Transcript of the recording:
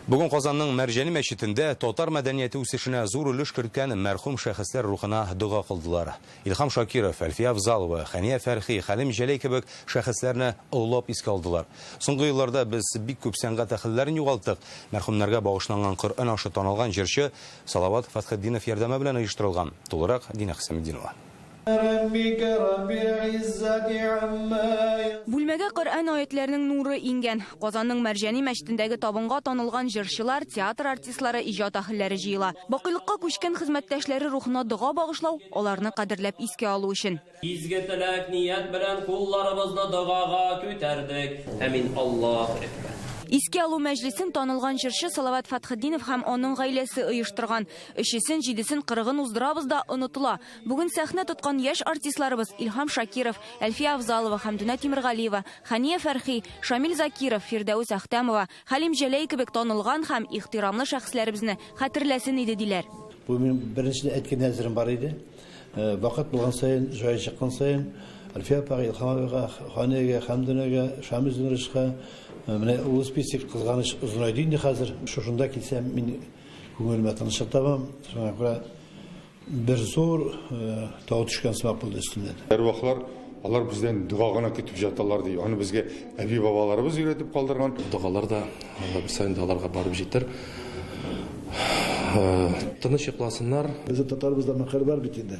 Бүген Казанның Мәрҗани мәчетендә татар мәдәнияте үсешенә зур өлеш керткән мәрхүм шәхесләр рухына дога кылдылар. Илһам Шакиров, Әлфия Авзалова, Хәния Фәрхи, Хәлим Җәләй кебек шәхесләрне олылап искә алдылар. Соңгы елларда без бик күп сәнгать әһелләрен югалттык. Мәрхүмнәргә багышланган Коръән ашы танылган җырчы Салават Фәтхетдинов ярдәме белән оештырылган. Тулырак, Динә Хөсаметдинова. Бүлмәгә Коръән аятьләренең нуры иңгән. Казанның Мәрҗани мәчетендәге табынга танылган җырчылар, театр артистлары, иҗат аһелләре җыела. Бакыйлыкка күчкән хезмәттәшләре рухына дога багышлау, аларны кадерләп искә алу өчен. Изге теләк-ният белән кулларыбызны догага күтәрдек. Әмин, Аллаһу әкбәр. Искә алу мәҗлесен танылган җырчы Салават Фатхетдинов һәм аның гаиләсе оештырган. Өчесен, җидесен, кырыгын уздырабыз да, онытыла. Бүген сәхнә тоткан яшь артистларыбыз, Илһам Шакиров, Әлфия Авзалова, Хәмдүнә Тимергалиева, Хәния Фәрхи, Шамил Закиров, Фирдәүс Әхтәмова, Хәлим Җәләй кебек танылган һәм ихтирамлы шәхесләребезне хәтерләсен иде, диләр. Бу минем беренчедән әйткән әзерем бар иде. Вакыт булган саен, җае чыккан саен, Әлфия апага, Илһам абыйга, Ханиягә, Хәмдүнәгә, Шамил Зинрычка, менә ул список, кызганыч, озынайды инде хәзер. Шушында килсәм, мин Күңелемә тынычлык табам, шуңа күрә бер зур тау төшкән сымак булды өстемнән. Әрвахлар алар бездән дога гына көтеп яталар, ди. Аны безгә әби-бабаларыбыз өйрәтеп калдырган. Догалар да бер саен да аларга барып җитәр. Тыныч йокласыннар. Безнең татарыбызда мәкаль бар бит инде.